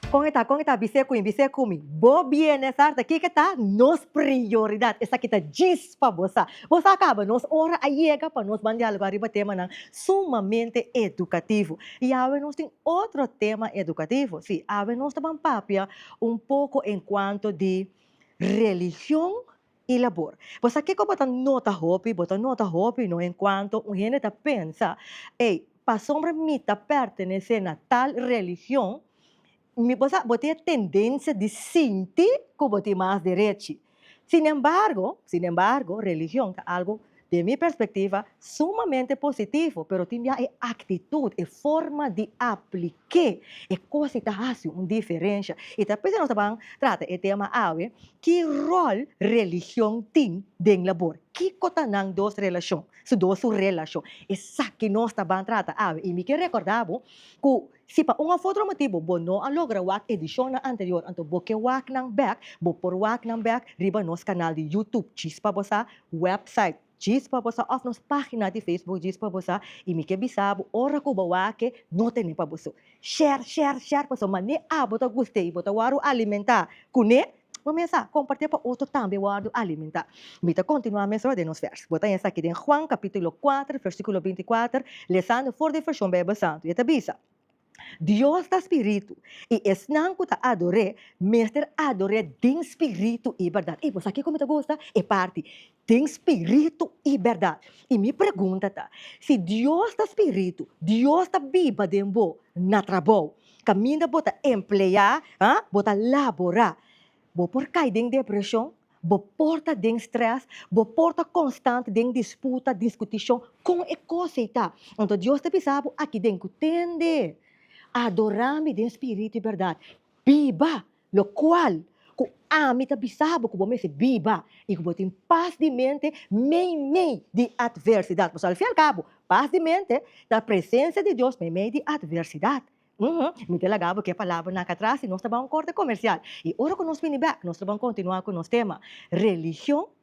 Kon e ta kon e ta bise ku mi bise ku mi bo bienesa ta kiko ta nos prioridat esaki ta djis. pa bo sa. Bo sa kaba, nos ora a yega pa nos ban dialoga riba temanan sumamente edukativo. I awe nos tin otro tema edukativo. Si, awe nos ta ban papia un poko enkuanto di religion i labor. Bo sa kiko bo ta nota hopi? Bo ta nota hopi no enkuanto un hende ta pensa, Ey, pasobra mi ta pertenesé na tal religion, Mi bo sa, bo tin e tendensia di sinti ku bo tin mas derechi. Sinembargo, sinembargo, religion ta algu, den mi perspektiva, sumamente positivo, pero tin bia e aktitut, e forma di aplik'é e kos si ta hasi un diferensha. I ta p'esei nos ta ban trata e tema awe, ki ròl religion tin den labor? Kiko ta nan dos relashon, su dos su relashon? Esaki nos ta ban trata awe. I mi ke rekòrdá bo ku. Si pa un of otro motibu bo no a logra wak edishonnan anterior anto bo ke wak nan bek, bo por wak nan bek riba nos kanal di Youtube Chispa Bo Sa, wèpsait Chispa Bo Sa òf nos página di Facebook Chispa Bo Sa i mi ke bisa bo ora ku bo wak-e no tene pa bo so. Share, share, share pasobra mané abo ta guste i bo ta wòru alimentá kuné, Bo mes a compart'é pa otro tambe wordo alimenta. Mi ta continua mesora den nos vers. Bo ta haya esaki den Juan capitulo kuater versiculo binti i kuater, lesando for di version Bijbel Santu. E ta bisa, Dios ta spiritu, i esnan cu ta ador'é, mester ador'é den spiritu i berdad. Ey, bo sa kico mi ta gusta? E parti, Tin spiritu i bèrdat. I mi pregunta ta, si Dios ta spiritu, Dios ta biba den bo na trabou kaminda bo ta empleá, ha, bo ta laborá. Bo por kai den depreshon, bo por ta den strès, bo por ta konstant den disputa, diskutishon kon e kos ei ta. Anto Dios ta bisa bo aki den ku tende, adorá mi den spiritu i bèrdat, biba. Locual, cu ami ta bisa bo cu bo mester biba y cu bo tin paz di mente meimei di adversidad. Pues al fin al cabo, paz di mente ta presencia di Dios meimei di adversidad. Uhm, mi ta laga bo ke palabranan aca atras y nos ta bay un corte comercial. Y ora cu nos bini bek, nos ta bay continua cu nos tema, Religion,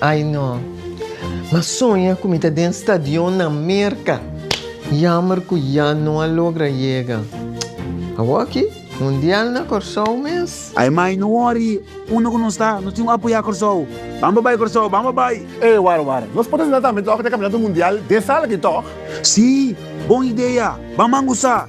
Ay no. M'a soña cu mi ta den stadion na Merca. Jammer cu ya no a logra yega. Awor aki, Mundial na Corsou mes. Ay mai, no worry. Unda cu nos ta, nos tin cu apoya Corsou. Bamba bay Corsou, bamba bay! Ey, wara, wara. Nos por ta sinta tambe toch den Campeonato Mundial den sala aki toch? Sí, bon idea. Bamban goza!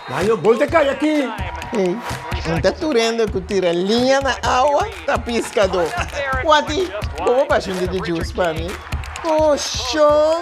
Nan yo gol te kai aki. Hey, un ta turendo cu tira liña na awa ta piscado. Wati, bobo bashi un tiki juice pa mi. Oh, shon!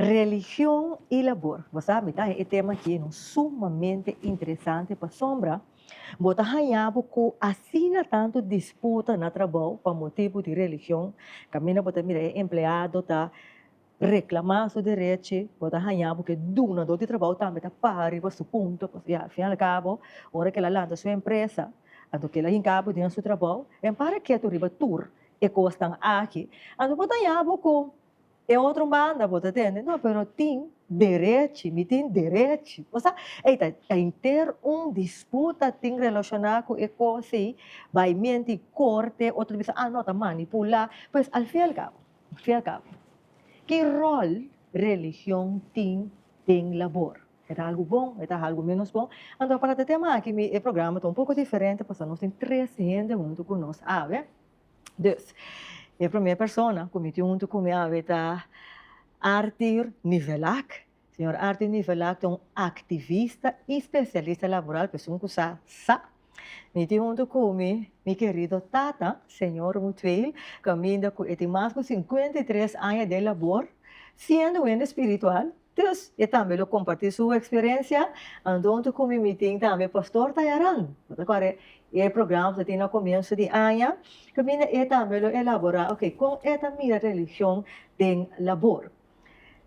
Religion y labor. Bo sa mi ta haña e tema aki no sumamente interesante pasobra bo ta haña bo cu asina tanto disputa na trabou pa motibu di religion caminda bo ta mira e empleado ta Reklamá su derechi, bo ta hañá ku e dunadó di trabou tambe ta paha riba su punto, pasobra al fin y al cabo ora ke el a lanta su empresa, anto ke el a hinká bo den su trabou, el para ketu riba tur e kosnan aki. Anto bo ta hañá bo ku e otro banda bo ta tende, no, pero tin derechi, mi tin derechi. Esa ei ta henter un disputa tin reloshoná ku e kos ei, bai mienti korte, otro ta bisa, ah, no, ta manipulá, pues al fin y al cabo, Siaka, ki ròl religion tin den labor? E ta algu bon, e ta algu ménos bon? Anto para ta tema aki mi e programa ta un poko diferente pasobra nos tin tres hende huntu ku nos awe. Dus, e promé persona ku mi tin huntu ku mi awe ta Arthur Nivelak. Señor Arti Nivelá ta un activista y specialista laboral, persoon cu sa sa. Mi tin hunto cu mi mi querido tata, Señor Mutweil, caminda cu e tin mas cu cincuenta y tres aña den labor, siendo wende spiritual, dus e tambe lo comparti su experiencia ando hunto cu mi mi tin tambe Pastor Tayaran, bo ta kore e programa cu tin na comienzo di aña, caminda e tambe lo elabora, ok, con e ta mira religion den labor.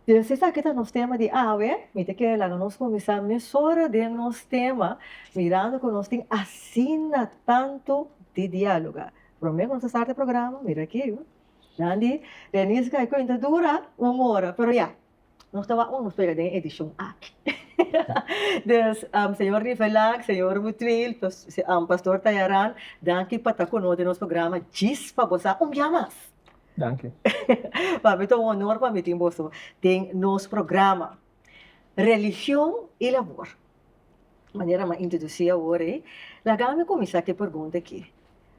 Pero si esaki ta nos tema di awe, mi ta kere laga nos kuminsá mesora den nos tema, mirando ku nos tin asina tantu di diáloga. Promé ku nos ta starta e programa, mira aki, yu. Nan di Reni Sky Queen ta dura un ora, pero ya, nos ta wak un nos pega den e edishon aki. Dus, señor Rivelac, señor Butwill, Pastor Tayaran, danki pa ta ku nos den nos programa djis pa bo sa un bia mas. Danki. pa mi ta un honor pa mi tin boso den nos programa. Religion y labor. Manera m'a introduci awor ei, laga mi cuminsa cu e pregunta aki.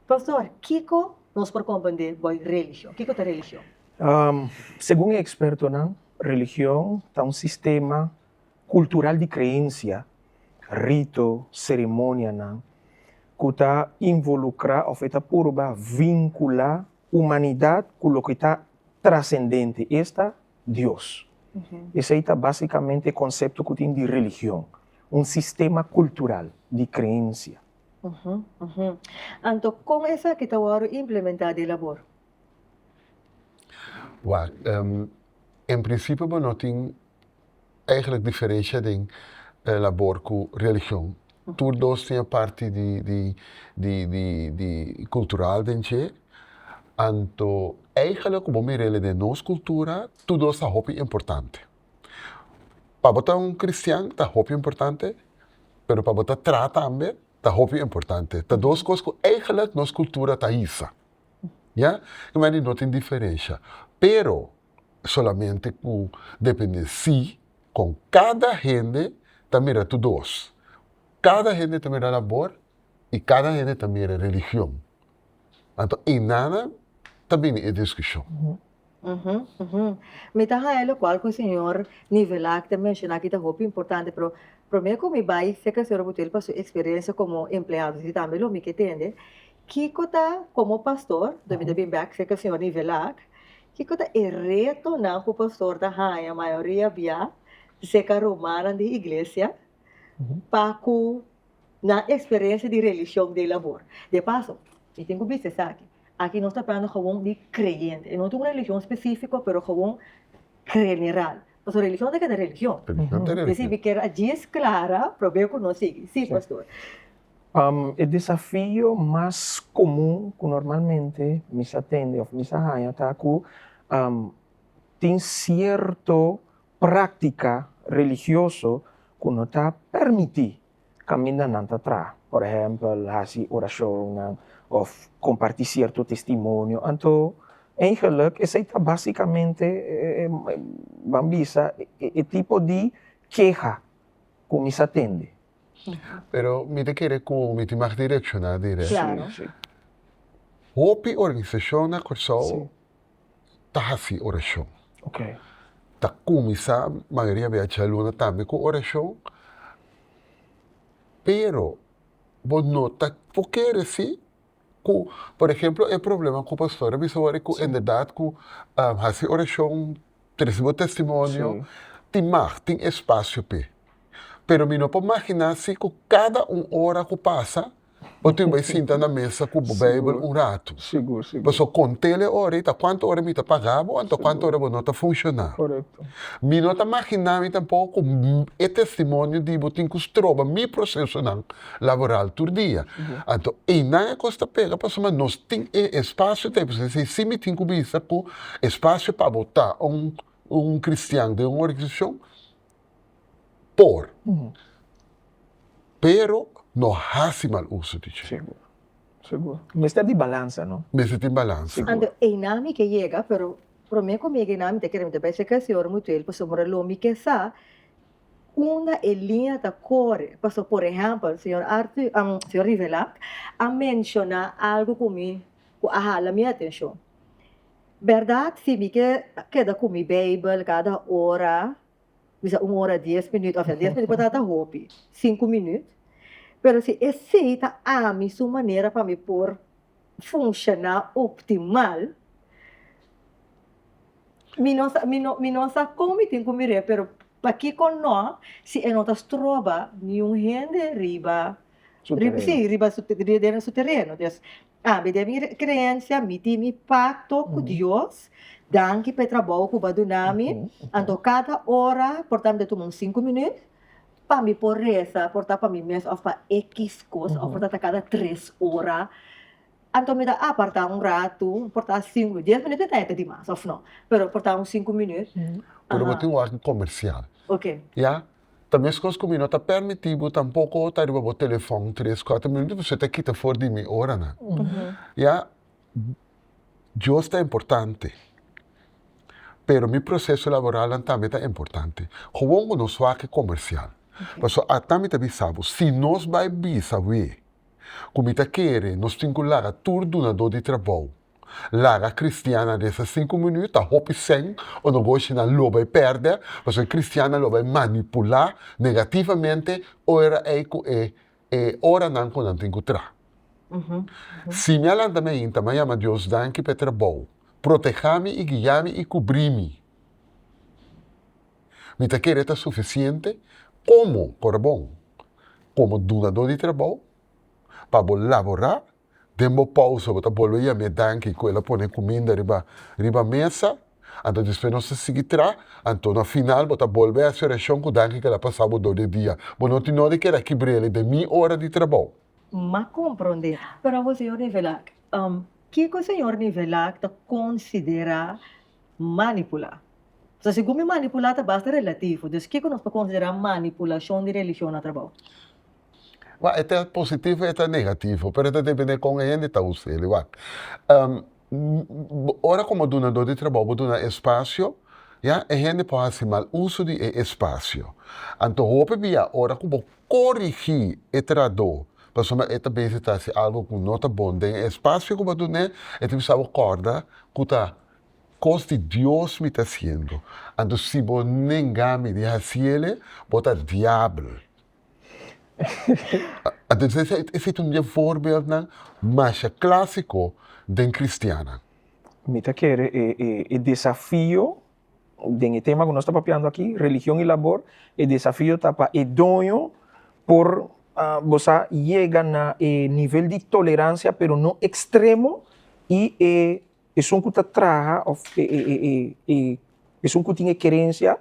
Pastor, kico nos por comprende boy religion? Kico ta religion? Segun e expertonan, religion ta un sistema. kultural di kreensia, rito, seremonianan ku ta involukrá òf e ta purba vinkulá humanidat ku loke ta trasendente, esta, Dios. Esei ta básikamente e konsepto ku tin di religion, un sistema kultural di kreensia. Anto, kon esaki ta wòrdu implementá den labor? Wak, en prinsipio bo no tin eigenlijk diferensha den e labor ku religion. Tur dos tin e parti di di di di di kultural den dje. Anto eigenlijk ku bo mir'el den nos kultura tur dos ta hopi importante. Pa bo ta un kristian ta hopi importante pero pa bo ta tra tambe ta hopi importante. Ta dos kos ku eigenlijk nos kultura ta hisa, ya, no tin diferensha pero. solamente ku depende si kon kada hende ta mira tu dos. Kada hende ta mira labor i kada hende ta mira religion. Anto inana ta bini e diskushon. Mi ta haña lokual ku señor Nivelá ta menshoná aki ta hopi importante, pero promé ku mi bai serka señor Obutuel pa su eksperensia komo empleado si tambe lo mi ke tende, kiko ta komo pastor, mi ta bin bèk serka señor Nivelá Kiko ta e retonan ku pastor ta haña mayoria bia di se karumannan den iglesia pa ku nan eksperensia di religion dei labor? De paso, mi tin ku bisa esaki, aki nos ta hablando gewoon di kreyente, e no ta un religion spesifiko pero gewoon general, pasobra religion ta keda religion. Religion ta religion. Di asina mi kier a djis klara, probé ku nos sigui. Sí, pastor. E desafio mas komun ku normalmente mi sa tende òf mi sa haña ta ku tin sierto práktika religioso ku no ta pèrmití kamindanan ta traha. Por ehèmpel, hasi orashonnan òf kompartí sierto testimonio. Anto, eigenlik esei ta básikamente ban bisa e tipo di keha ku mi sa tende. Pero mi ta kere ku mi tin mag direkshoná dirèk. Hopi organisashon na Kòrsou ta hasi orashon. Ta kuminsá mayoria bia djaluna tambe ku orashon, pero bo no ta por kere si. ku por ehemplo e problema ku pastor a bisa wòrdu ku enderdat ku hasi orashon, trese bo testimonio tin mag, tin espasio p'e. Pero mi no por maginá si ku kada un ora ku pasa bo tin bai sinta na mesa ku bo Beibel un ratu. Pasobra kontel e ora ei ta kuantu ora mi ta pagá bo anto kuantu ora bo no ta funshoná. Mi no ta maginá mi tampoco ku e testimonio di bo tin ku stroba mi prosesonan. laboral tur dia. Anto einan e kos ta pega pasobra nos tin e espasio ta esei. Si así mi tin ku bisa ku espasio pa bo ta un un kristian den un organisashon por, pero no hasi mal uso di dje. Seguro, seguro. Mester tin balansa, no? Mester tin balansa. Anto einan mi ke yega, pero promé ku mi yega einan mi ta kere mi ta bai serka e señor Mutuel pasobra lo mi ke sa Unda e liña ta kore? Paso por ehèmpel, señor Arthur, señor Rivelac a menshoná algu ku mi ku a hala mi atenshon. Bèrdat si mi ke keda ku mi Beibel kada ora, bisa un ora dies minüt, òf dies minüt por ta ta hopi, sinku minüt, pero si esei ta ami su manera pa mi por funshoná optimal. Mi no sa, mi no, mi no sa kon mi tin ku mir'é, pero pakiko no si e no ta stroba niun hende riba Su tereno. si, riba su den su tereno. Des, ami den mi kreensia mi tin mi pakto ku Dios, danki p'e trabou ku bo a duna mi, anto kada ora por tambe tuma un sinku minüt. Pa mi por resa, por ta pa mi mes of pa e kiss kos, of por ta ta kada tres ora, anto mi ta aparta un ratu, por ta sinku, dies minut e ta e ta dimas of no, pero por ta un sinku minut, Pero bo tin un orden comercial. Ok. Ya? Ta meskos ku mi no ta permití bo tampoko ta riba bo telefòn tres, kuater minut, pasobra e ta kita for di mi oranan. Ya? Dios ta importante, pero mi proceso laboralnan tambe ta importante. Gewoon ku nos wak e komersial. Pasobra ata mi ta bisa bo, si nos bai bisa awe ku mi ta kere nos tin ku laga tur dunadó di trabou, laga kristiannan resa sinku minüt, ta hopi sèn o nogoshi nan lo bai pèrdè, pasobra e kristiannan lo bai manipulá negativamente ora ei ku e e oranan ku nan tin ku tra. Si mi a lanta mi ainta, mi a yama Dios danki pa e trabou. Protehá mi i guiá mi i kubrí mi. Mi ta kere ta sufisiente komo, kora bon, komo dunadó di trabou pa bo laborá. den bo pausa bo ta bolbe yam'é danki ku el a pone kuminda riba riba mesa, anto despues nos ta sigui tra, anto na final bo ta bolbe hasi orashon ku danki ku el a pasa bo dor di e dia, bo no tin nodi keda aki brele den mi ora di trabou. M a komprondé, pero awor señor Nivelak, kiko señor Nivelak ta konsiderá manipulá? Pasobra segun mi manipulá ta basta relativo, dus kiko nos por konsiderá manipulashon di religion na trabou? Wak e ta positivo e ta negativo pero e ta depende kon e hende ta usa el wak ora como dunador di trabajo bo duna espacio ya e hende por haci mal uso di e espacio anto hopi bia ora cu bo corigi e trado pasobra e ta besi ta haci algo cu no ta bon den e espacio cu bo a dun'e e ta bisa bo corda cu ta cos di dios mi ta haciendo anto si bo nenga mi di haci ele bo ta diabel Esei ta un di e voorbeeldnan masha klasiko den kristiannan. Mi ta kere e desafio den e tema ku nos ta papiando aki, religion i labor, e desafio ta pa e doño por bo sa yega na e nivel di toleransia pero no ekstremo i e esun ku ta traha òf esun ku tin e kerensia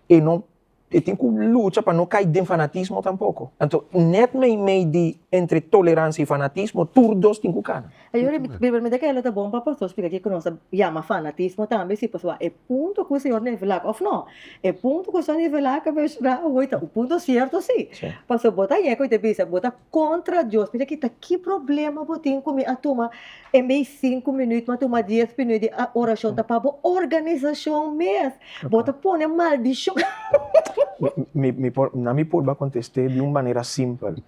e no E tin ku lucha pa no kai den fanatismo tampoko. Anto, nèt meimei di entre toleransia i fanatismo, tur dos tin ku kana. Ayò, primeramente ke lo ta bon pa pastor splika kiko nos ta yama fanatismo tambe, si pasobra e punto ku señor nivelá òf nò, e punto ku asun a nivelá, ta menshon'á awoy, ta un punto sierto sí. Pasobra bo ta yega ku e ta bisa bo ta kontra Dios mi ta kita ki problema bo tin ku mi a tuma en bes sinku minüt mi a tuma dies minüt di orashon ta pa bo organisashon mes bo ta pone maldishon nan mi por a kontest'é di un manera simpel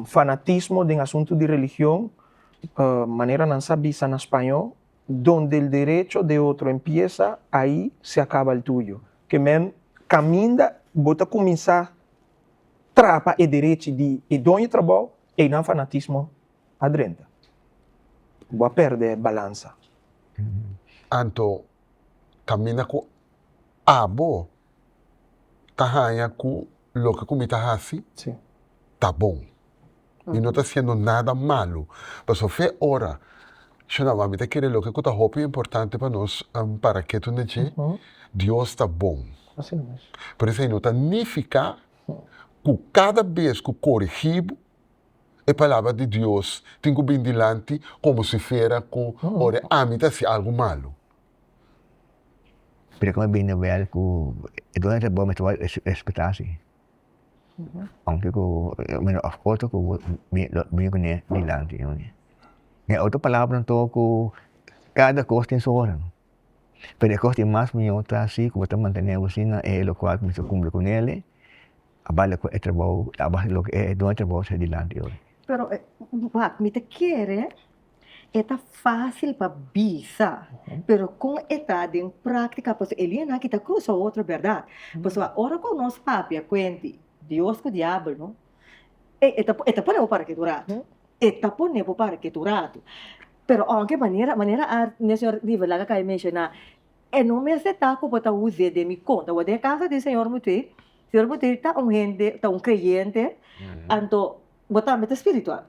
fanatismo den asuntu di religion manera nan sa bisa na spañó donde el derecho de otro empieza ahi se acaba el tuyo ke men kaminda bo ta kuminsá trapa e derechi di e doño trabou, einan fanatismo a drenta. Bo a perde balansa. Anto caminda cu abo ta haña cu loke cu mi ta haci ta bon. Mi no ta hasiendo nada malu. Pasobra so fe ora, Shonaba, mi ta kere loke ku ta hopi importante pa nos para ketu na dje, Dios ta bon. Pero esei no ta nifiká ku kada bes ku korigí bo, e palabra di Dios tin ku bini dilanti komo si fiera ku ora ami ta hasi algu malu. Pero kiko mi bini na wèl ku e dueño ta bon mi ta wòrdu respetá si? aunke ku bueno a foto ku mi kuné dilanti den otro palabra anto ku kada kos tin su ora pero e kos di mas mió ta si ku bo ta mantené bo asina e lokual ku bo ta kumpli ku nele a bale ku e trabou a base di loke e don e trabou ta hasi dilanti. E ta fácil pa bisa, pero kon e ta den práktika, pasobra e liñanan aki ta krusa otro bèrdat. Pasobra ora ku nos papia kuenti Dios ku Diabel no, e e ta e ta pone bo para ketu ratu, e ta pone bo para ketu ratu. Pero aunke manera manera a Señor River laga kai menshoná, e no mester ta ku bo ta wuz'é den mi konta, wak den e kasa di Señor Mutwe, Señor Mutwe ta un hende, ta un kreyente, anto Bo tambe ta spiritual.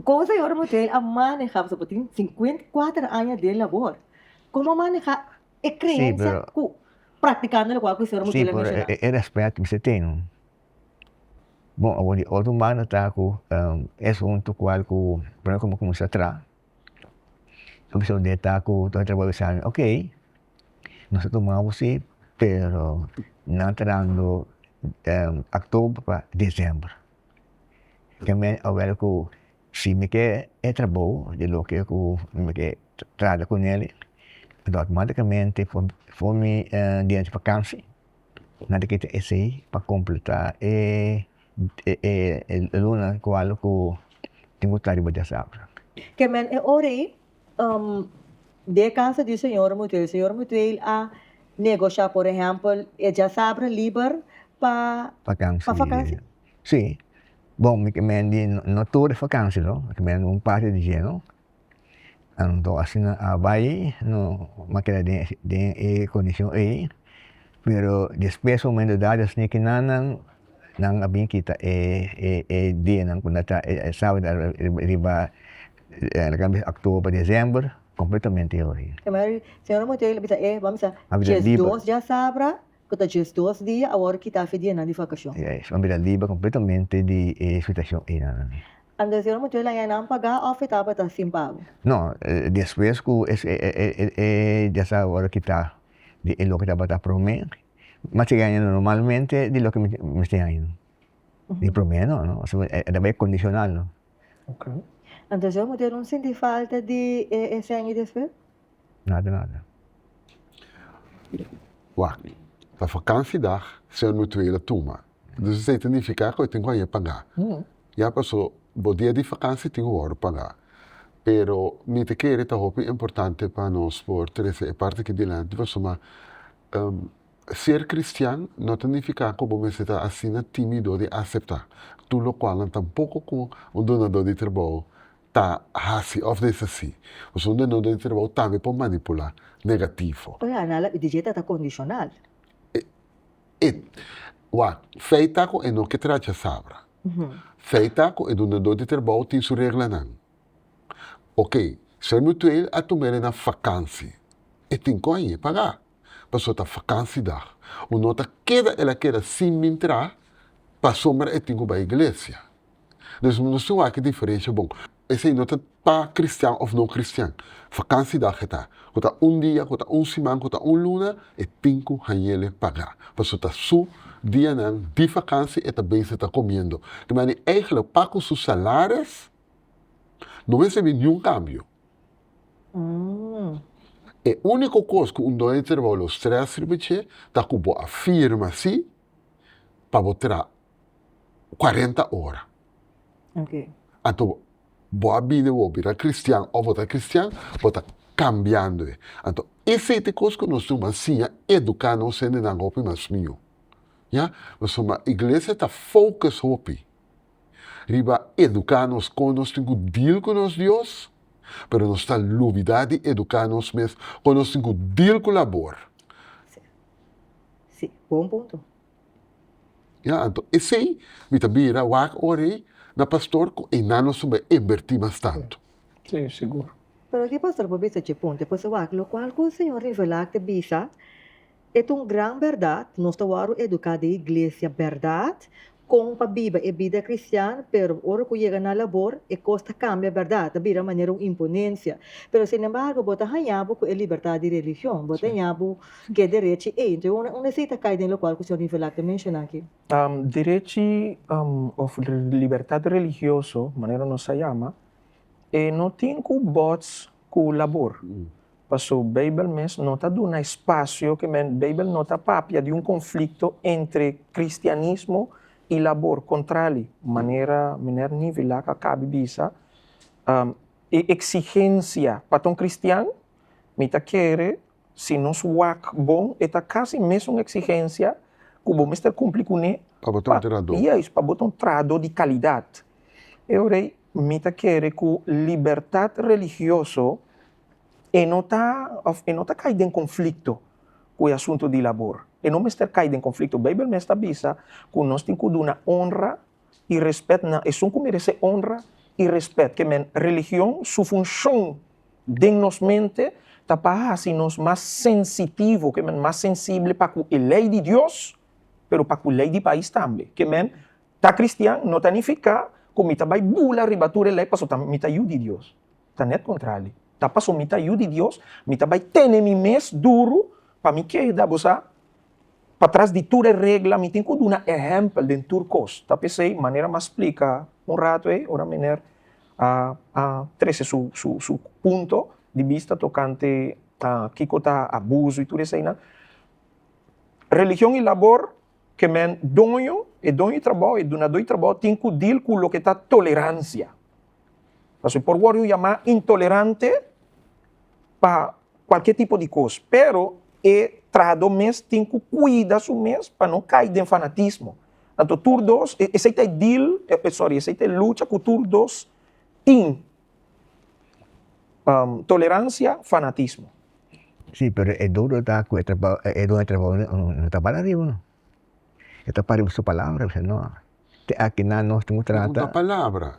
Kon Señor Moshe a maneha, pasobra bo tin sinkuenta i kuater aña den labor, kon bo a maneha e kreensia ku praktikando lokual ku Señor Moshe lo a menshona? Sí, pero e rèspèt mi mester tene. Bon, awor di otro mano ta ku e asuntu kual ku promé ku mi a kuminsá tra, lo mi susidé ta ku mi a trabou bisa nan, oke, nos a tuma bo si, pero nan ta dando october pa december. Djamé awel ku si mi ke e trabou di loke ku mi ke trata ku neli automaticamente for mi dianti vakansi mi ta kita esei pa kompletá e luna ku tin ku sta riba di e sabra. Ke men e ora ei di e kasa di señor Mutuel. Señor Mutuel a negosha por ehempel e djasabra liber pa fakansi. Si, bon mi kemen di no tur e fakansi no, mi kemen di un parti di dje no, anto asina a bai no a keda den e kondishon ei, pero despues un momento dado a sini kina nan, nan a bin kita e dianan ku nan ta e sabra riba. Lo ke a bisa october pa december completamente e ori. Mari señora Monteiro lo bisa e bo a bisa dies dos di asabra ku ta dies dos di awor a kita afe dianan di vakashon. Ya es, bo a bisa libra completamente di e situashon ei nan. Ando señora Monteiro la yanan paga of e tabata sin pago? No, despues ku e e di asabra awor a kita di e loke tabata prome, mas si yanan normalmente di loke mester yanan. Di prome no, no, pasobra e tabata kondisional no. Anto Joe Montero no sinti falta di e sènge di esper? Nada nada. Wak, ta vakansi dag, señor Mutuela a tuma. Dus esei ta nifiká ku e tin ku a haña pagá. Ya pasó dos dia di vakansi tin wòrdu pagá. Pero mi ta kere ta hopi importante pa nos por trese e parti aki dilanti pasobra. Ser kristian no ta nifiká ku bo mester ta asina tímido di aseptá tur lokual nan tampoko ku un donadó di trabou ta hasi òf deshasí. Pasobra un donadó di trabou tambe por manipulá negativo. Oye Ana a labi di dje ta ta kondishonal. E wak, fei ta ku e no ke tracha sabra. Fei ta ku e donadó di trabou tin su reglanan. Oke, señor Mutueel a tuma el e na vakansi. E tin kon aye pagá. pasobra ta fakansidag. Ku no ta keda, el a keda sin mintrá pasobra e tin ku bai iglesia. Entonces nos tin ku hasi diferensha bon. Esei no ta pa kristian òf no kristian. Fakansidag e ta. Ku ta un dia, ku ta un siman, ku ta un luna, e tin ku hañele pagá. Pasobra ta su dianan di fakansi e ta bens e ta komiendo. Di manera eigenlik pa ku su salares no mester bin niun kambio. E úniko kos ku un doño di trabou lo strès riba dje ta ku bo a firma sí pa bo traha kuarenta ora. Anto bo a bini bo bira kristian òf bo ta kristian, bo ta kambiando e. Anto esei ta e kos ku nos duna siña eduká nos hendenan hopi mas mió. Pasobra iglesia ta fokus hopi riba eduká nos kon nos tin ku dil ku nos Dios, pero nos ta lubidá di eduká nos mes kon nos tin ku dil ku labor. Sí, sí, bon punto. Ya, anto esei mi ta bira wak ora ei na pastor ku e nan nos tabata a invertí mas tantu. Sí, sigur. Pero aki pastor por bisa dje punto, e por si wak lokual ku señor rivelá, ak ta bisa, E ta un gran bèrdat, nos ta wòrdu eduká den iglesia bèrdat, kon pa biba e bida kristian, pero ora ku yega na labor e kos ta kambia bèrdat, ta bira manera un imponensia. Pero sin embargo bo ta hañá bo ku e libertad di religion, bo ta hañá bo ku e derechi ei. Entonces un un esei ta kai den lokual ku señor Mivilak ta menshoná aki. Derechi òf libertad religioso, manera nos a yama, e no tin ku bòts ku labor. Paso Bijbel mes no ta duna espacio ke men Bijbel no ta papia di un conflicto entre cristianismo y labor, contrali, manera Miner Neville la ka cabi bisa, e exigencia pa ta un cristian, mi ta kere si nos wak bon e ta casi mesun exigencia cu bo mester cumpli cune pa bo ta un trado, juist, pa bo ta un trado di calidad. Eorei mi ta kere cu libertad religioso. e no ta òf e no ta kai den konflikto ku e asuntu di labor. E no mester kai den konflikto. Beibel mes ta bisa ku nos tin ku duna onra i rèspèt na esun ku meresé onra i rèspèt. Ke men, religion su funshon den nos mente ta pa hasi nos mas sensitivo, ke men, mas sensible pa ku e lei di Dios, pero pa ku lei di pais tambe. Ke men, ta kristian no ta nifiká ku mi ta bai bula riba tur e lei pasobra mi ta yu di Dios. ta net kontrali. Ta paso mi ta Yu di Dios, mi ta bai tene mi mes duru pa mi keda, bo sa, patras di tur e regla, mi tin ku duna ehèmpel den tur kos. Ta p'esei, manera m'a splika un ratu ei, ora Meneer a a trese su su su punto di bista tokante kiko ta abuso i tur eseinan, religion i labor, ke men doño, e doño di trabou, e dunadó di trabou tin ku dil ku loke ta toleransia. Pasobra por wòrdu un yamá intolerante pa kualke tipo di kos, pero e trahadó mes tin ku kuida su mes pa no kai den fanatismo. Anto tur dos, esei ta e dil, sòri, esei ta e lucha ku tur dos tin Toleransia, fanatismo. Sí, pero e dodo ta ku e trabou, e don e trabou no ta bal ariba no. E ta pari bo su palabra, bisa no, te aki nan nos tin ku trata. No ta palabra,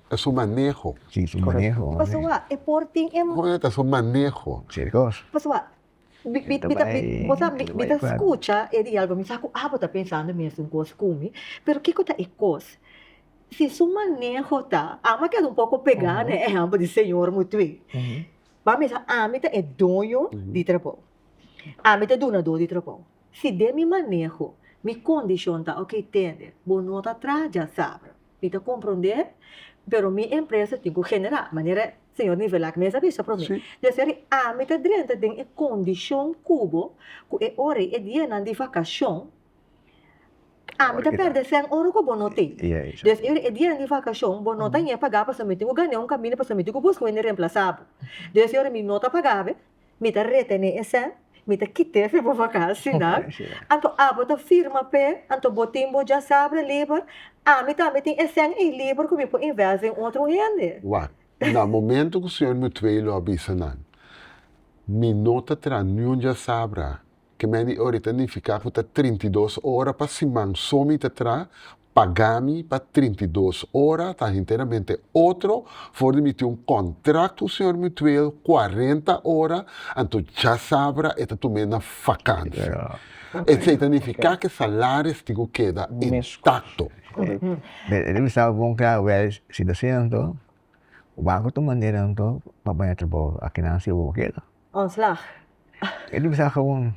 ta su maneho. Sí, su maneho. Pasobra e por tin e. Kos ta su maneho. Serios. Pasobra Mi ta skucha e dialgo, mi sa ku abo ta pensando mesun kos ku mi, pero kiko ta e kos? Si su maneho ta, amo a keda un poko pegá na e ehèmpel di señor Mutué. Bo a mesa, ami ta e doño di trabou, ami ta e dunadó di trabou. Si den mi maneho mi kondishon ta, ok tende, bo no ta traha djasabra, mi ta komprondé, pero mi empresa tin ku generá manera Señor nivel aki mester bisa prome. Sí. Di eseri ami ta drenta den e kondishon ku bo ku e ora ei e dianan di vakashon ami ta pèrdè sèn ora ku bo no tin. Di eseri e dianan di vakashon bo no ta ña pagá pasobra mi tin ku gané un kaminda pasobra mi tin ku buska wen di remplasá bo. Di eseri mi no ta pagá be mi ta retene esè, mi ta kit'e pi bo vakansi nan, anto abo ta firma p'e, anto bo tin bo djasabra liber, ami tambe tin esèn ei liber ku mi por invèst den otro hende. Wak, na momento ku señor Mutwei lo a bisa nan, mi no ta traha niun djasabra. Ke men di ori ta nifiká ku ta trinta i dos ora pa siman so mi ta tra, pagá mi pa trinta i dos ora, ta henteramente otro, for di mi tin un kòntrakt ku señor Mutueel kuarenta ora, anto djasabra e ta tum'é na vakansi. Esei ta nifiká ke salaris tin ku keda intakto. Debe staba bon klaru, wèl, si ta asina anto, ku banko ta manera anto pa baña trabou? Akinan si e bo keda? Ontslag. E di bisa gewoon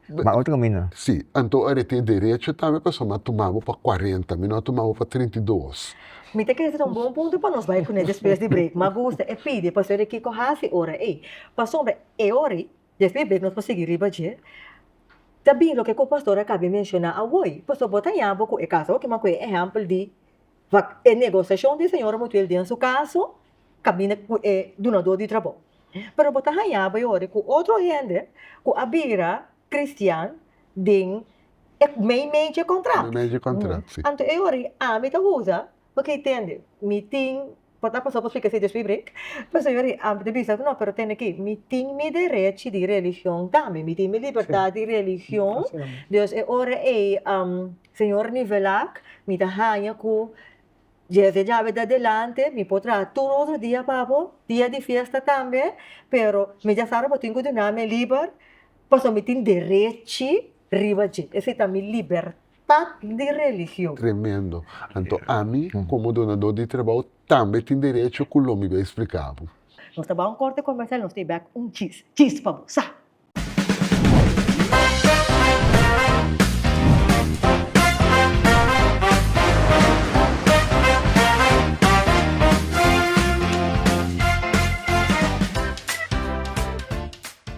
ba otro camino. Sí, anto ora e tin derecho tambe pasobra mi a tuma bo pa cuarenta, mi no a tuma bo pa trinta i dos. Mi ta kere traha un bon punto pa nos bai kuné despues di break. Mi a gusta e pidi pasobra e di kiko hasi ora ei. Pasobra e ora ei, despues di break nos por sigui riba dje, ta bin loke ku pastor a kabe menshoná awor ei. Pasobra bo ta yaña bo ku e kas awor kiman ku e ehèmpel di Wak e negosiashon di e señora Mutuel den su kaso kaminda ku e dunadó di trabou. Pero bo ta hañá bo e ora ku otro hende ku a bira kristian den e mei mei dje kontrato. Anto e ora i ami ta usa, bo ke tende, mi tin Por ta pasobra spika si Dioshpi bring? Pues señor i amper ta bisa ku no, pero tende ki mi tin mi derechi di religion tambe, mi tin mi libertat di religion, Dios e ora ei señor nivel ak mi ta haña ku dje se djabe adelante mi por traha tur otro dia pa bo, dia di fiesta tambe, pero mi dja sa robo tin ku dunami e liber, pasobra mi tin derechi Riba dje, esei ta mi libertat di religion. Tremendo. Anto ami, komo donadó di trabou, tambe tin derecho ku lo mi bai spliká bo. Nos ta bai un korte komersial i nos ta bai bèk un chis. Chis pa bo. Sa!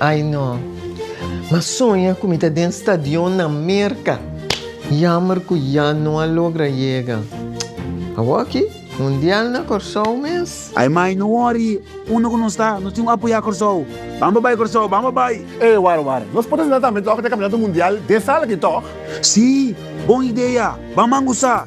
Ay no. M'a soña cu mi ta den stadion na Merca. Jammer cu ya no a logra yega. Awoki, Mundial na Corsou mes. Ay mai, no worry. Unda cu nos ta, nos tin un apoya Corsou. Bamba bay Corsou, bamba bay! Ey, wara wara. Nos por asina tambe toch den Campeonato Mundial den sala aki toch? Sí, bon idea. Bamban goza.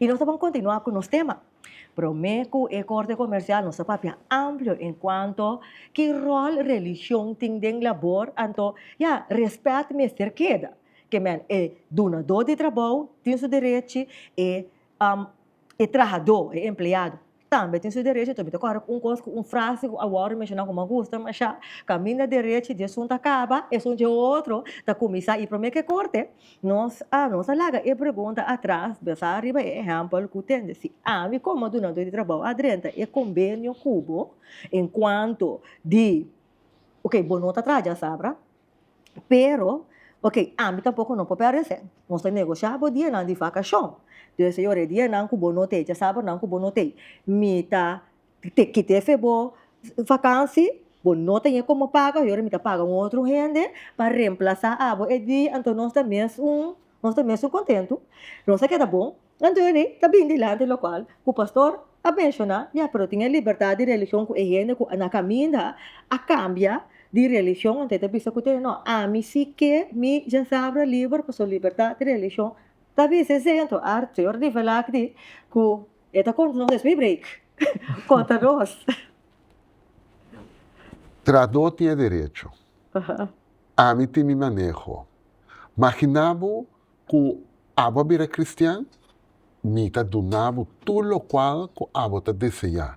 I nos ta bon kontinuá ku nos tema. Promé ku e korte komersial nos ta papia amplio en kuanto ki ròl religion tin den labor anto ya rèspèt mester keda. Ke men e dunadó di trabou tin su derechi e e trahadó, e empleado. Tambe tin su derechi ta kòrè ku un kos ku un frase ku awor menshoná ku m'a gusta mashá, Kaminda derechi di esun ta kaba, esun dje otro ta kuminsá i promé ke korte. Nos a nos a laga e pregunta atras bensá riba e ehèmpel ku tende. Si ami komo dunadó di trabou a drenta e kombenio ku bo en kuanto di, okay, bo no ta traha dje asabra, pero ok ami tampoco no por parece nos ta negosha bo dia nan di vacacion entonces señor e dia nan cu bo no tey e sabor nan cu bo no tey mi ta kite fe bo vakansi bo no ta ñe como paga mi ta paga un otro hende pa remplaza abo e dia enton nos ta mes un Nos ta mesun kontentu, nos a keda bon. Anthony ta bini dilanti lokual ku pastor a menshoná di a pero tin e libertat di religion ku e hende ku a na kaminda a kambia di religion anto e ta bisa ku tene. No, ami si ke mi djasabra liber pasobra libertat di religion ta bisa esei. Anto a señor Divelak di ku e ta konta nos esei breek konta nos. Tradó tin e derecho. Ami tin mi maneho. Magina bo cu abo a bira cristian, mi ta duna bo tur locual cu abo ta deseá.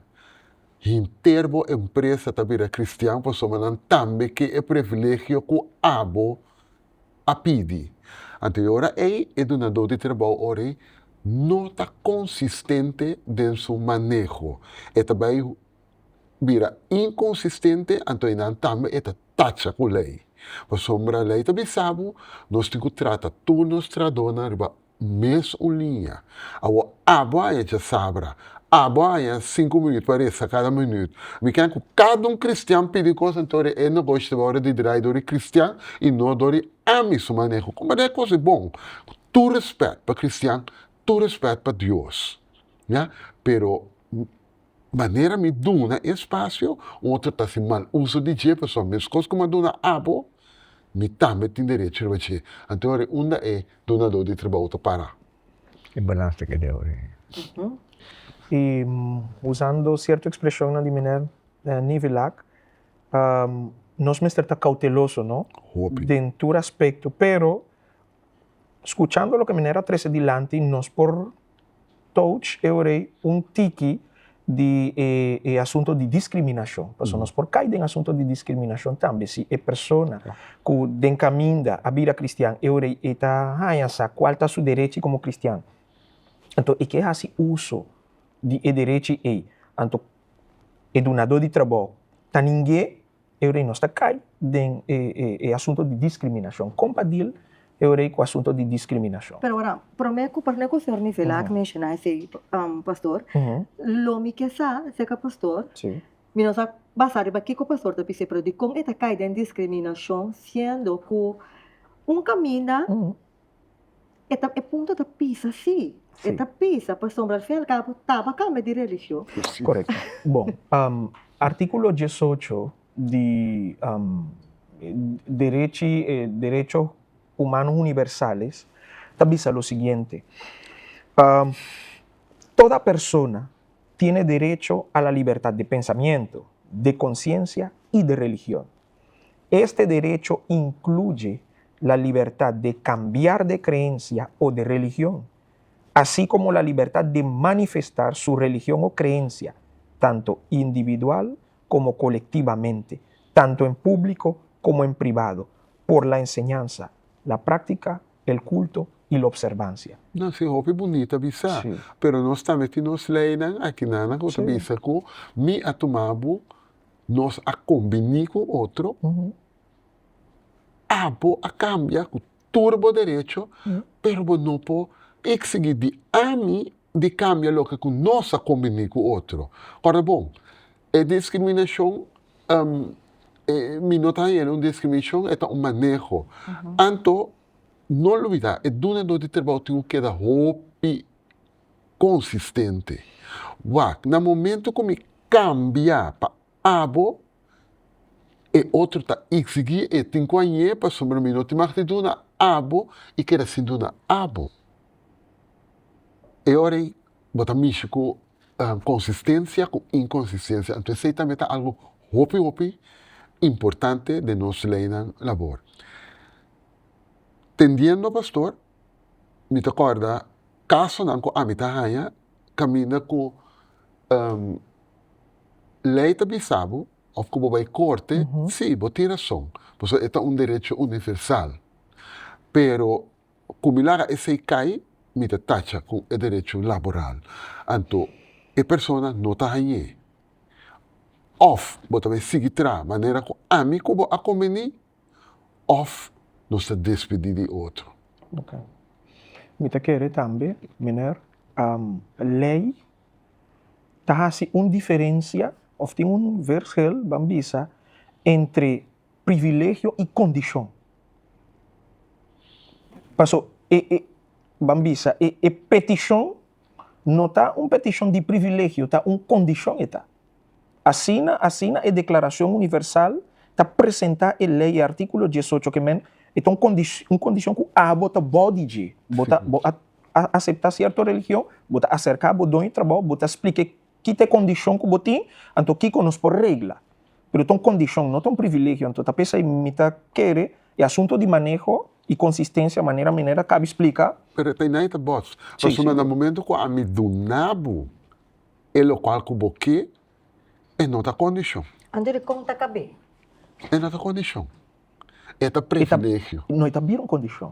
Henter bo empresa ta bira cristian pasobra nan tambe ke e privilegio cu abo a pidi. Anto e ora ei e dunadó di trabou ora ei no ta consistente den su maneho. E ta bai bira inconsistente anto enan tambe e ta tacha cu ley. Pasobra ley ta bisa bo nos tin cu trata tur nos tradonan riba mes un liña. Awor abo a hecha sabra, abo a haña sinku minuut pa resa cada minuut. Mi ken cu cada un cristian pidi cos anto ora e nogoshi ta bay ora di draai door e cristian y no door e ami su maneho. Con banda e cos e bon? Cu tur respet pa cristian, tur respet pa Dios, ya, pero Manera mi duna e spasio, un otro ta hasi mal uso di dje, pasobra meskos ku mi a duna abo, mi tambe tin derecho riba dje. Anto yori unda e dunadó di trabou ta para? E balans ta keda yori. I usando sierto ekspreshonnan di meneer Nivillack, nos mester ta kouteloso, no? Hopi. Den tur aspekto, pero. Skuchando loke Miner a trese dilanti, nos por touch eorei un tiki di e asunto di diskriminashon. Paso nos por kai den asunto di diskriminashon tambe si e persona ku den kaminda a bira kristian eorei e ta haña sa kual ta su derechi komo kristian, anto e ke hasi uso di e derechi ei, anto e dunadó di trabou ta ningé. Eorei nos ta kai den e e e asunto di diskriminashon. Kon pa deal Eorei ku asunto di diskriminashon? Pero ora, promé ku promé ku señor Mivela a ke menshoná esei, pastor, lo mi ke sa, seka pastor, mi no sa basá riba kiko pastor ta bis'e, pero dikon e ta kai den diskriminashon siendo ku un kaminda e ta e punto ta pisa si e ta pisa pasobra al fin al cabo taba cambia di religion. Correcto. Bon, um, artículo diesocho di um, derechi, eh, derechos humanos universales ta bisa lo siguiente, um, toda persona tiene derecho a la libertad de pensamiento, de conciencia y de religión. Este derecho incluye la libertad de cambiar de creencia o de religion, así como la libertad de manifestar su religion o creencia, tanto individual como colectivamente, tanto en público como en privado, por la enseñanza, la práctica, el culto y la observancia. Nan sin hopi bunita bisa, pero nos tambe tin nos leynan aki nan nan cu ta bisa cu mi a tuma bo nos a combini cu otro, abo a cambia cu tur bo derecho, pero bo no por exigi di ami di cambia loke cu nos a combini cu otro. Ora bon, e discriminacion, mi no ta haña el un discriminacion, e ta un maneho. Anto, no olbida, e dunador di trabou tin cu keda hopi. consistente. Wak, na momento cu mi cambia pa abo, e otro ta igsigi e tin cu a ñe pasobra mi no tin mag di duna abo y keda sin duna abo. E ora ey bo ta mishi cu consistencia cu inconsistencia. Anto esey tambe ta algo hopi hopi importante den nos leynan labor. Tendiendo, Pastor, mi ta corda casonan cu ami ta haya caminda cu ley ta bisabu of cu bo bay corte si bo tin rason pasobra e ta un derecho universal pero cu mi laga esey cay mi ta tacha cu e derecho laboral anto e persona no ta hañe of bo ta bay sigui traha manera cu ami cu bo a conveni. òf nos ta despedí di e otro. Oke. Mi ta kere tambe, Miner, lei ta hasi un diferensia òf tin un vershel ban bisa entre privilegio i kondishon. Paso, e, e, ban bisa e, e petishon no ta un petishon di privilegio, ta un kondishon e ta. Asina, asina e Declaracion Universal ta presenta e ley, e articulo diesocho ke men, e ta un condicion cu abo ta bou di dje, bo ta bo a acepta cierto religion, bo ta acerca bo doño trabou, bo ta splique kita e condicion cu bo tin, anto kico nos por regla. Pero ta un condicion, no ta un privilegio, anto ta p'esey mi ta kere e asunto di maneho y consistencia manera mi neda cabi splica, Pero e ta y nan e ta bos, pasobra na momento cu ami dunabo E lokual ku bo ke e no ta kondishon. Anto di kon ta kab'é? E no ta kondishon. E ta privilegio. No, e ta bira un kondishon.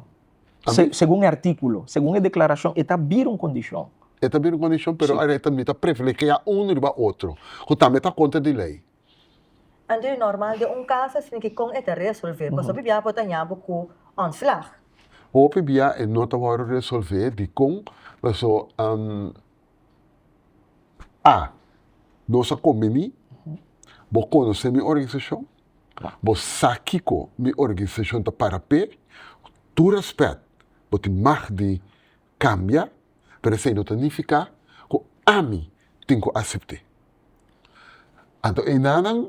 Segun e artíkulo, segun e deklarashon, e ta bira un kondishon. E ta bira un kondishon, pero awe ta mira ta privilegiá unu riba otro, ku tambe ta kontra di lei. Anto di normal den un kas asina ki kon e ta resolve? Pasobra hopi bia por ta ña bo ku ontslag. Hopi bia e no ta wòrdu resolve. Dikon? Paso. A nos a kombini, bo konosé mi organisashon, bo sa kiko mi organisashon ta para p'e, ku tur rèspèt bo tin mag di kambia, pero esei no ta nifiká ku ami tin ku asept'é. Anto einanan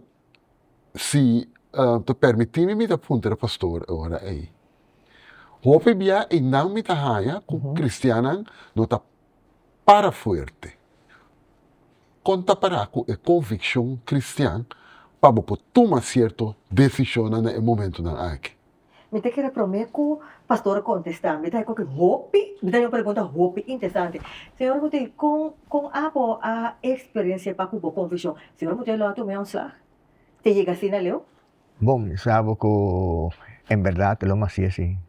si ta pèrmití mi, mi ta puntra e pastor e ora ei, Hopi bia einan mi ta haña ku kristiannan no ta. Para fuerte. Kon ta para ku e konvikshon kristian pa bo por tuma sierto desishonnan na e momentunan aki? Mi ta kere promé ku pastor a kontestá. Mi ta haña koke hopi, mi ta haña un pregunta hopi interesante. Señor Muté, kon kon abo a eksperensiá pa ku bo konvikshon? Señor Muté lo a tum'é ontslag? Te yega asina leu? Bon, mi sa abo ku en bèrdat lo mas si'e sin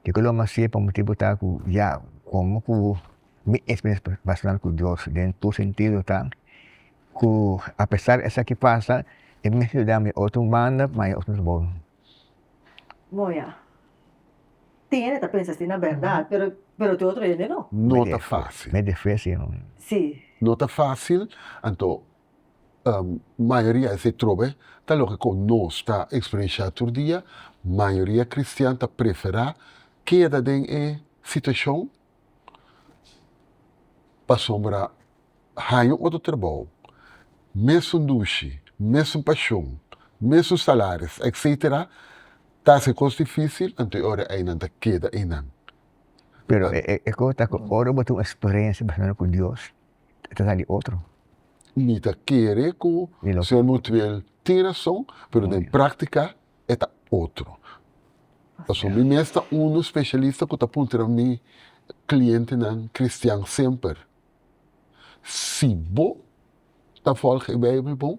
Ke ku lo mas'é pa motibu ta ku ya komo ku mi eksperensia personal ku Dios den tur sentido ta ku apesar esaki pasa e mes lo yudami otro banda ma e otro bo. Tin hende ta pensa asina berdad pero tin otro hende no. No ta fasil. No ta fasil anto mayoria di esei trobe ta loke ku nos ta eksperensiá tur dia. Mayoria kristian ta preferá keda den e situashon pasobra haña un otro trabou, mesun dushi, mesun pashon, mesun salaris etcetera ta hasi e kos difísil, anto e ora ei nan ta keda einan. Pero e kos ta ku ora bo tin un eksperensia personal ku Dios e ta sa di otro. Mi ta kere ku señor Mutuel tin rason, pero den praktika e ta otro. Pasobra mi mes ta unu spesialista ku ta puntra mi klientenan kristian semper, si bo ta fòlg e Beibel bon,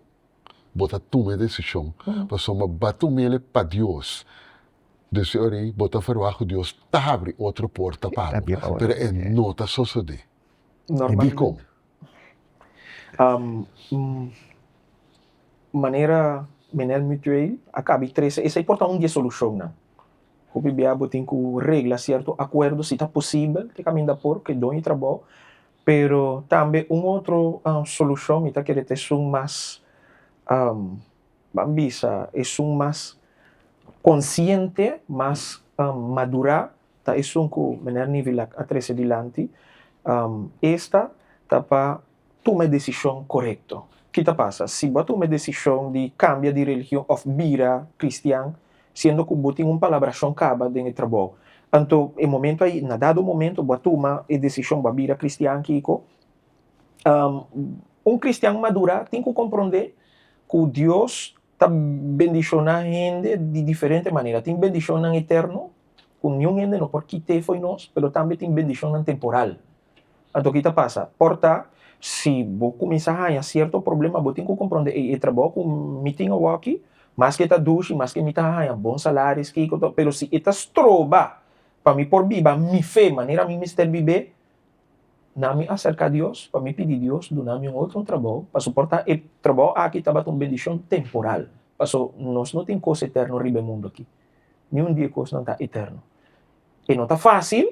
bo ta tuma e desishon, pasobra ba ta un mele pa Dios, den su ora ei bo ta verwagt ku Dios ta habri otro porta pa bo, pero e no ta sosodé. E dikon? Manera Menel Mutueel a kaba i trese esei por ta un di e solushonnan. Hopi bia bo tin ku regla sierto akuerdo si ta posibel te kaminda por ku e doño di trabou, pero tambe un otro solushon mi ta kere ta esun mas, ban bisa, esun mas konsiente, mas madurá ta esun ku Meneer Nivillack a trese dilanti, esta ta pa tuma e desishon korekto. Ki ta pasa si bo a tuma e desishon di kambia di religion òf bira kristian siendo ku bo tin un palabrashon kaba den e trabou? Anto e momentu ai, na dado momentu bo a tuma e desishon bo a bira kristian, kiko? Un kristian madurá tin ku komprondé ku Dios ta bendishoná hende di diferente manera. Tin bendishonnan eterno ku niun hende no por kit'é fo'i nos, pero tambe tin bendishonnan temporal. Anto ki ta pasa? Por ta, si bo kuminsá haña sierto problema, bo tin ku komprondé, ey, e trabou ku mi tin awoki, maske ta dushi, maske mi ta haña bon salaris, kiko, pero si e ta stroba pa mi por biba mi fe manera mi mester bib'é, Na mi aserka Dios pa mi pidi Dios duna mi un otro trabou, paso por ta e trabou aki tabata un bendishon temporal, paso nos no tin kos eterno riba e mundu aki, niun di e kosnan ta eterno. E no ta fásil,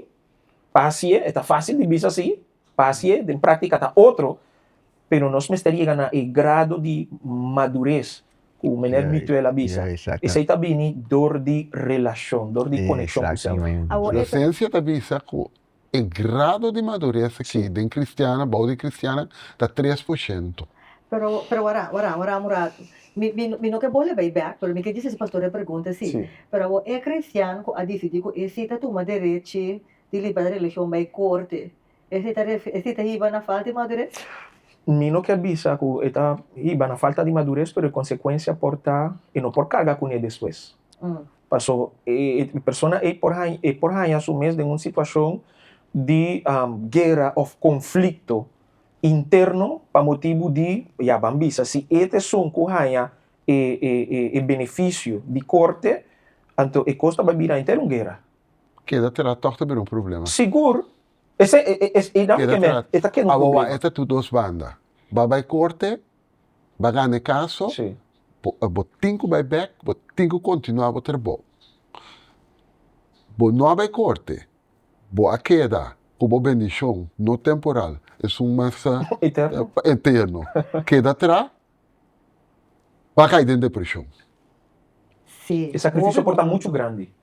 pasié, e ta fásil di bisa así, pasié, den práktika ta otro, pero nos mester yega na e grado di madures, ku meneer Mituel a bisa, esei ta bini dor di relashon, dor di konekshon ku señor. Inosensia ta bisa ku E grado di madures aki den cristiannan, bou di cristiannan, ta tres por ciento. Pero, pero wara, wara, wara un rato. Mi, mi, mi no ke bole bay bek, pero mi ke disi si pastor e pregunta si. Sí. Pero awor e cristian ku a disidi ku e si ta tuma derechi di libertad di religion bay corte, e si ta refe, e si ta hiba na falta di madures? Mi no ke bisa ku e ta hiba na falta di madures, pero e consecuencia por ta, e no por carga kuné despues. Paso, e persona ei por haña, e por haña su mes den un situashon di guera òf konflikto interno pa motibu di, ya ban bisa, si e ta esun ku haña e e benefisio di korte, anto e kos ta bai bira henter un guera. Keda tera tòg ta bira un problema. Sigur. Esei e e e e dam un kemen, e ta keda un problema. Awawa e ta tur dos banda. Ba bai korte. Bo a gana e kaso, bo tin ku bai bèk, bo tin ku kontinuá bo trabou. Bo no a bai korte, bo a keda ku bo bendishon, no temporal, esun mas ta eterno, keda atrá, bo a kai den depreshon.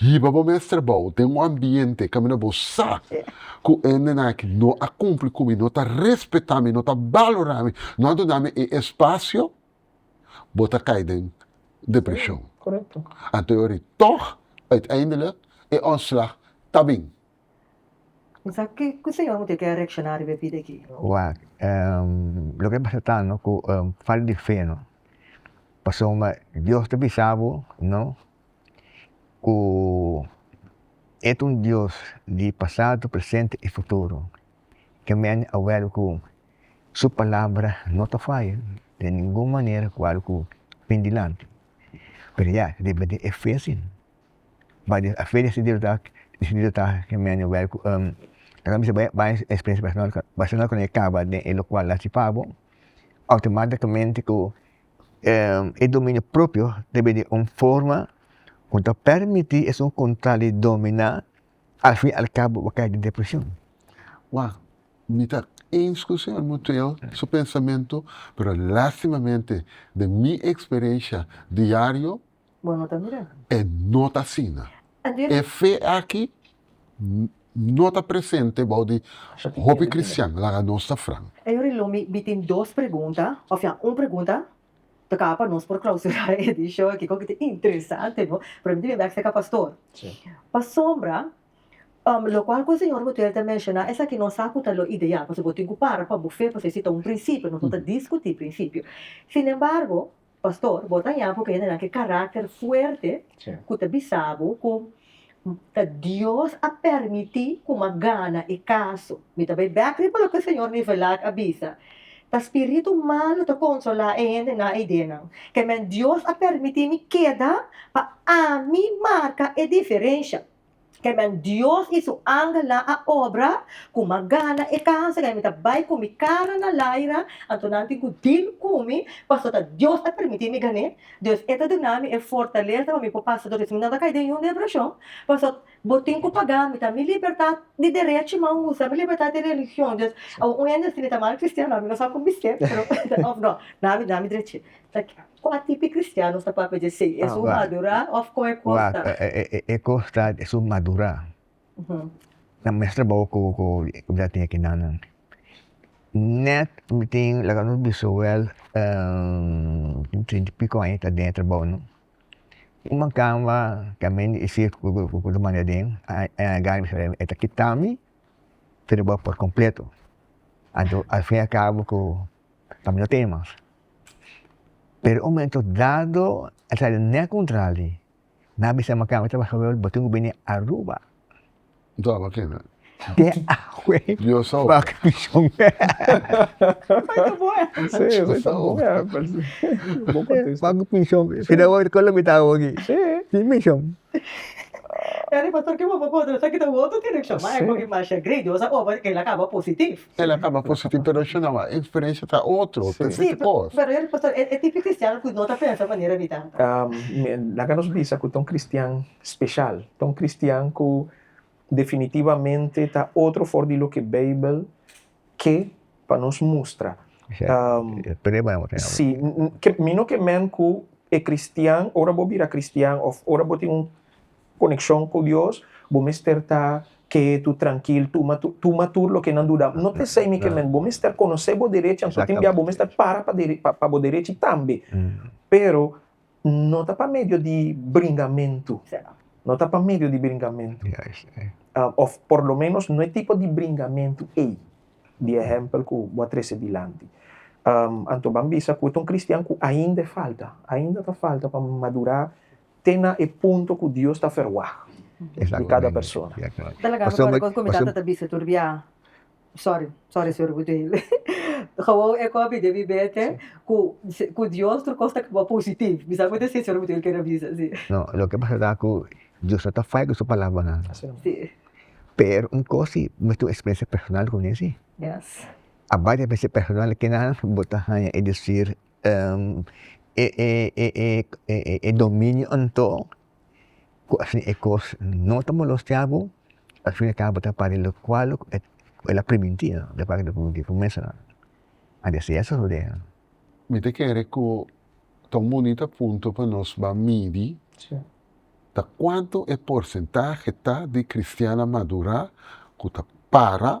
Hiba bo mes trabou den un ambiente kaminda bo sa ku endenan aki no a kumpli ku mi, no ta respetá mi, no ta balorá mi, no a duna mi e espasio, bo ta kai den depreshon. Anto yo ri tòg uiteindelik e òntslag ta bin. Kuse yon mester keda reakshoná riba e bida aki? Loke ta pasatando ku falta di fe no. Pasobra Dios ta bisa bo. ku e ta un Dios di pasado, presente i futuro. Ke mende a wèr ku su palabra no ta faya di ningun manera kal ku bin dilanti. Pero ya, riba di e fe si. But a fe disidido ta ke mende wèr ku ora mi bai bai e experiencia personal personal ku e kaba den e lokual a sifi abo, outomaticamente ku e dominio propio ta bini un forma ku ta permití esun ku ta di dominá al fin al kabo bo kai den depreshon. Wòw mi ta ins ku señor Motheo su pensamentu pero lastimamente den mi eksperensha diario Bo no ta mira. E no ta asina. E fe aki no ta presente bou di hopi cristian, laga nos ta fran. E yori lo mi mi tin dos pregunta, ofia un pregunta, toca pa nos por clausura e edicion aki, kiko ta interesante no, pero mi tin bek seca pastor, pasobra lo cual cu señor Gutierrez ta menciona esaki no sa cu ta lo ideal, pasobra bo tin cu para pa bo fe, pasobra esi ta un principio, nos no ta discuti principio, sin embargo. Pastor, bo ta yapo ku hendenan ke karakter fuerte ku ta bisa bo ku ta Dios a permití ku mi a gana e kaso. Mi ta bai bèk riba loke Señor Nivelak a bisa, ta spiritu malu ta konsolá e hende na ideanan. Kèmen Dios a permití mi keda pa ami marka e diferensha. Amen Dios y su angel nan a obra cu mas gana e casa en mi ta bay cu mi cara na laira anto nan tin cu deal cu mi pasobra ta Dios a permiti mi gane dus e ta duna mi e fortaleza pa mi por pasa tur esey mi no ta cay den ningún depresion pasobra bo tin cu paga mi ta mi libertad di derecho mi a usa mi libertad di religion dus awo un hende a escribi mi ta mal cristiano a mi no sa con bisé pero of no na mi drechito. Kon a tipi kristianos ta papia dje sei? Es un madurá òf kon e kosta? E kosta es un madurá. Na mes trabou ku mi ta tin akinan nan, nèt mi tin laga nos bisawèl tin trinta i piko aña ta den e trabou no. Un man kamba ke a mende i si ku ta manda aden, e a gana bisha e ta kita mi trabou por kompleto. Anto al fin al kabo ku ta mira tema. Pero un momento dado a traha den e contral di nan a bisa mi kami tabata hoi bo tin ku bini aruba. De awe pa kamishi El a kaba positivo pero el shunaba e experiencia ta otro ta sete cos. Pero e pastor e tipo cristiano cu no ta pensa manera di ta. Laga nos bisa cu ta un cristian special, ta un cristian cu definitivamente ta otro for di loke Bijbel ke pa nos mustra. Si, mi no ke mend cu e cristian ora bo bira cristian of ora bo tin un Konekshon ku Dios, bo mester ta ketu, trankil, tuma tuma tur loke nan duda. No ta esei mi ke men, bo mester konosé bo derechi, anto tin bia bo mester para pa dere pa bo derechi tambe. Pero no ta pa medio di bringamentu, no ta pa medio di bringamentu, òf por lo ménos no e tipo di bringamentu ei di ehèmpel ku bo a trese dilanti. Anto ban bisa ku ta un kristian ku ainda e falta, ainda ta falta pa madurá. te na e punto ku Dios ta ferwagt di kada persona. Ta laga mi kòrda kon ku mi tata ta bisa tur biaha, sòri, sòri señor Bujoel, Gewoon e kòpi debí bete ku ku Dios tur kos ta kaba positiv. Mi sa ku ta si señor Bujoel kere bisa si. No, loke pasa ta ku Dios no ta fai ku su palabranan. Pero un kos si mi a tin un eksperensia personal kuné si. Aparte di eksperensia personal, kinan bo ta haña e desir e dominio anto ku asina e kos no ta molostiá bo asina e kaba ta pare lokual luk el a primintí ku mesa a desea su rodea. Mi ta kere ku ta un bunita punto pa nos ba midi ta kuantu e porsentahe ta di kristian a madurá ku ta para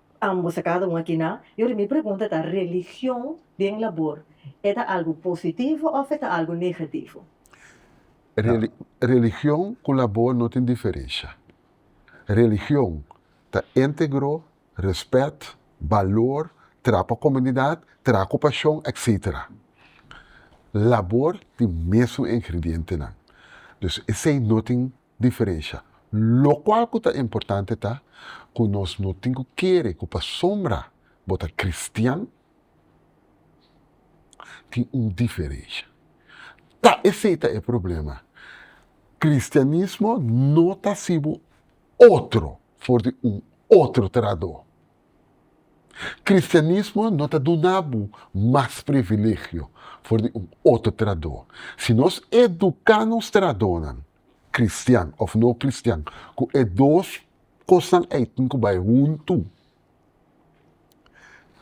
Ambos a cada un aki na. Y ora mi pregunta ta religion den labor e ta algo positivo of e ta algo negativo? Religion cu labor no tin diferencia. Religion ta integro, respet, balor, traha pa comunidad, traha cu pasion etc. Labor tin mesun ingredientenan. Dus esey no tin diferensha. Lokual ku ta importante ta ku nos no tin ku kere ku pasobra bo ta kristian tin un diferensha. Ta esei ta e problema, kristianismo no ta hasibo otro for di un otro traradó. Kristianismo no ta duna bo mas privilegio for di un otro traradó. Si nos eduká nos traradónan. cristian of no cristian cu e dos cosnan ei tin cu bay hunto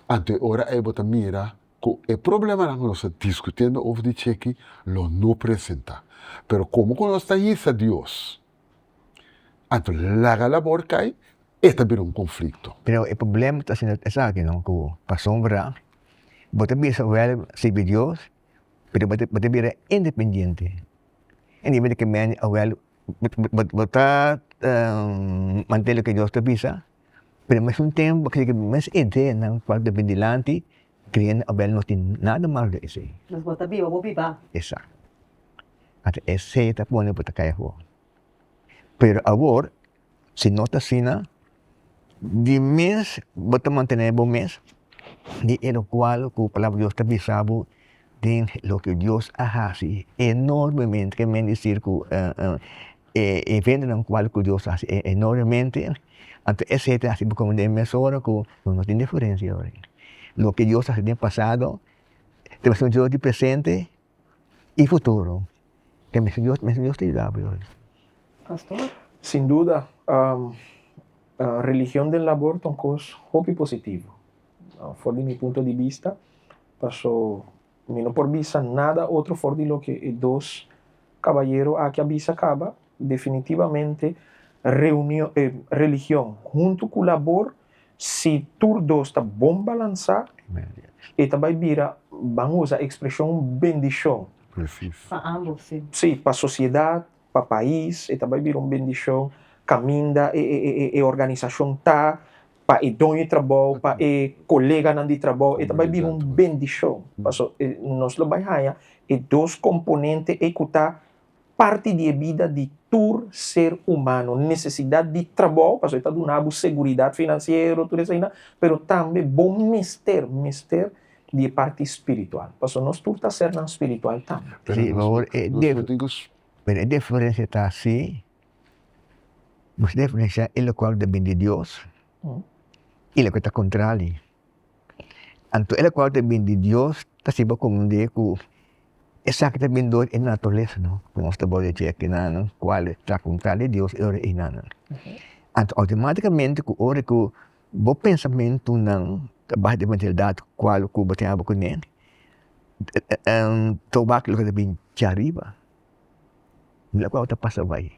anto e ora ei bo ta mira cu e problemanan cu nos ta discutiendo over di cheki lo no presenta pero como cu nos ta yisa Dios anto laga labor cay e ta bira un conflicto. Pero e problema ta siendo esaki no cu pasobra bo ta bisa wel sirbi Dios pero bo ta bira independiente. E nivel di kemende avel bo ta mante loke dios ta bisa, pero al mesmo tempo bo kere ku e mes ideanan ku a bin dilanti kreindo avel no tin nada malo den esei. Pues bo ta biba bo biba. Exacto ata esei ta pone bo ta kai afor pero awor Si no ta asina, di mes bo ta mantené bo mes di e lokual ku Palabra di Dios ta bisa bo den loke Dios a hasi enormemente, ke men isir ku e eventonan kual ku Dios a hasi enormemente, anto esei ta hasi bo kuma den mesora ku bo no tin diferensia. Loke Dios a hasi den pasado, ta mesora di presente i futuro te mesun Dios, mesun Dios ta yuda bo yoi. Pastor? Sin duda, um, uh, religion den labor ta un kos hopi positivo. Uh, for di mi punto di bista, paso mi no por bisa nada otro for di loke e dos kabayero aki a bisa kaba, definitivamente reunion, eh, religion huntu ku labor Si tur dos ta bon balansá, e ta bai bira, ban usa e ekspreshon, bendishon. Pa ambos, sí. Sí, pa sosiedat, pa pais, e ta bai bira un bendishon kaminda e organisashon ta, pa e doño di trabou, pa e koleganan di trabou, e ta bai bira un bendishon. Paso, nos lo bai haña e dos komponente ei ku ta parti di e bida di tur ser humano, necesidad di trabou, pasobra e ta duna bo seguridad financiero, tur esaina, pero tambe bo mester, mester di e parti spiritual, pasobra nos tur ta ser nan spiritual tambe. Sí, pero awor e dif, pero e diferencia ta si, nos diferencia e locual ta bini di Dios y loke ta contra di. Anto e local ta bin di dios ta sibi a conde cu esaki ta bin dor e naturalesa no cu nos ta worde cu aki nan cuale ta contra di dios e ora eynan no anto automaticamente cu ora cu bo pensamento nan ta baha den den edad cual cu bo tenga bo cu ne to wak lo ta bin kia ariba mira cual ta pasa awey.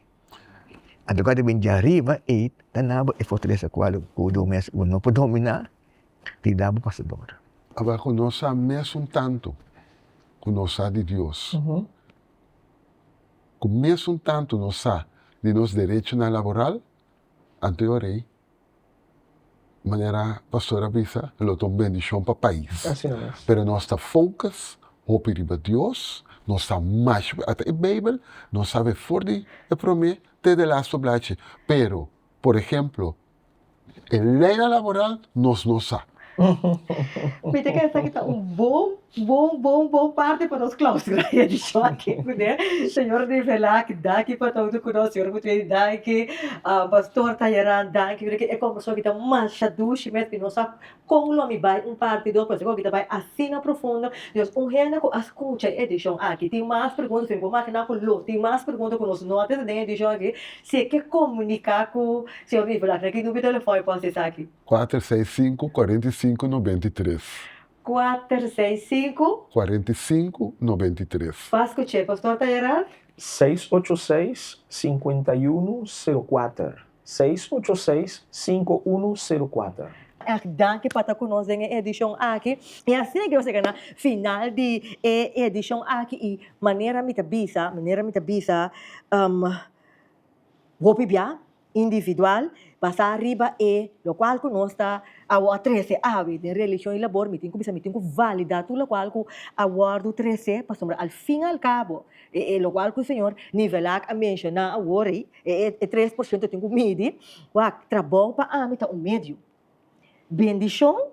Anto kua ta bin dja riba ei ta nabo e fortalesa kua lo ku do mes ku no por domina tin dabo pasador. Ora ku no sa mes un tantu ku no sa di Dios, ku mes un tantu no sa di nos derechonan laboral, anto e ora ei manera pastor a bisa lo ta un bendicion pa pais pero nos ta focus hopi riba dios nos ta mash ata e beibel nos sabe for di e prome te di e lastu blachi pero por ehemplo e leynan laboral nos no sa. Bo bo bo parte pa nos claustra e edicion aki cu den Señor di Velac. Danki pa ta hunto cu nos Señor Gutierrez y danki Pastor Tayeran danki pasobra que e conversacion aki ta masha dushi mes y no sa con lo mi bay un parti dos pasobra que e cosaki ta bay asina profundo entonces un hende cu a scucha e edicion aki tin mas preguntas pasobra mi por makina cu lo tin mas preguntas cu nos no a tene den e edicion aki si e ke comunica cu Señor di Velac na ki numero di telefon e por haci esaki. Cuater seis cinco cuarenta y cinco noventa y tres. Kuater, seis, sinku. Kuarenta i sinku, nobenta i tres. Pas ku che, Pastor ta era. Seis ocho seis, sinkuenta i unu, seru kuater. Seis ocho seis, sinku unu, seru kuater. Erg danki pa ta ku nos den e edishon aki. I asi a nos yega na final di e edishon aki i manera mi ta bisa, manera mi ta bisa, hopi bia individual basá riba e lokual ku nos ta awor a trese awe den relishon i labor mi tin ku bisa mi tin ku validá tur lokual ku a wòrdu tresé pasobra al fin i al kabo e e lokual ku señor Nivelak a menshoná awor ei e e tres por shento tin ku midi wak trabou pa ami ta un medio Bendishon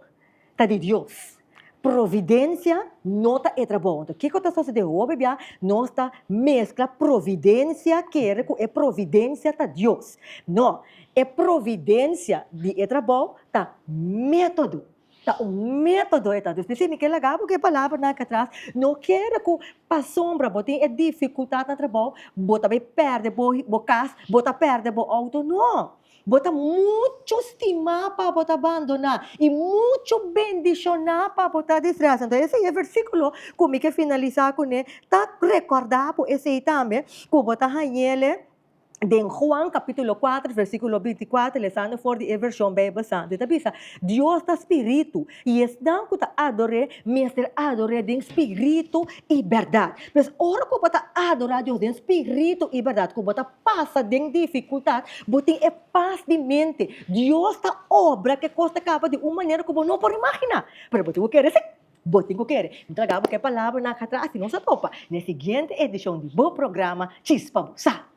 ta di Dios. Providensia no ta e trabou. Anto, kiko ta sosodé hopi bia? Nos ta meskla providensia kere ku e providensia ta Dios. No, e providensia di e trabou ta método. Ta un método e ta. Dus mi fia mi ke laga bo ku e palabra nan aka atras. No kere ku pasobra bo tin e difikultat na trabou, bo ta bai pèrdè bo kas, bo ta pèrdè bo outo. No! Bo ta mucho stimá pa bo ta bandoná i mucho bendishoná pa bo ta disreá. Sento esei e versíkulo ku mi ke finalisá kuné ta rekòrdá bo esei tambe ku bo ta hañ'e den Juan kapítulo kuater, versíkulo binti kuater, lesando for di e vershon Beibel Santu. I ta bisa, Dios ta spiritu. I esnan ku ta ador'É mester ador'É den spiritu i bèrdat. Pues, ora ku bo ta adora Dios den spiritu i bèrdat, ku bo ta pasa den difikultat, bo tin e pas di mente. Dios ta obra ku e kos ta kaba di un manera ku bo no por imaginá. Pero bo tin ku kere, sí, bo tin ku kere. Mi ta laga bo ke palabranan atrás, si nos a topa na e siguiente edishon di bo programa Chispa bo Sa.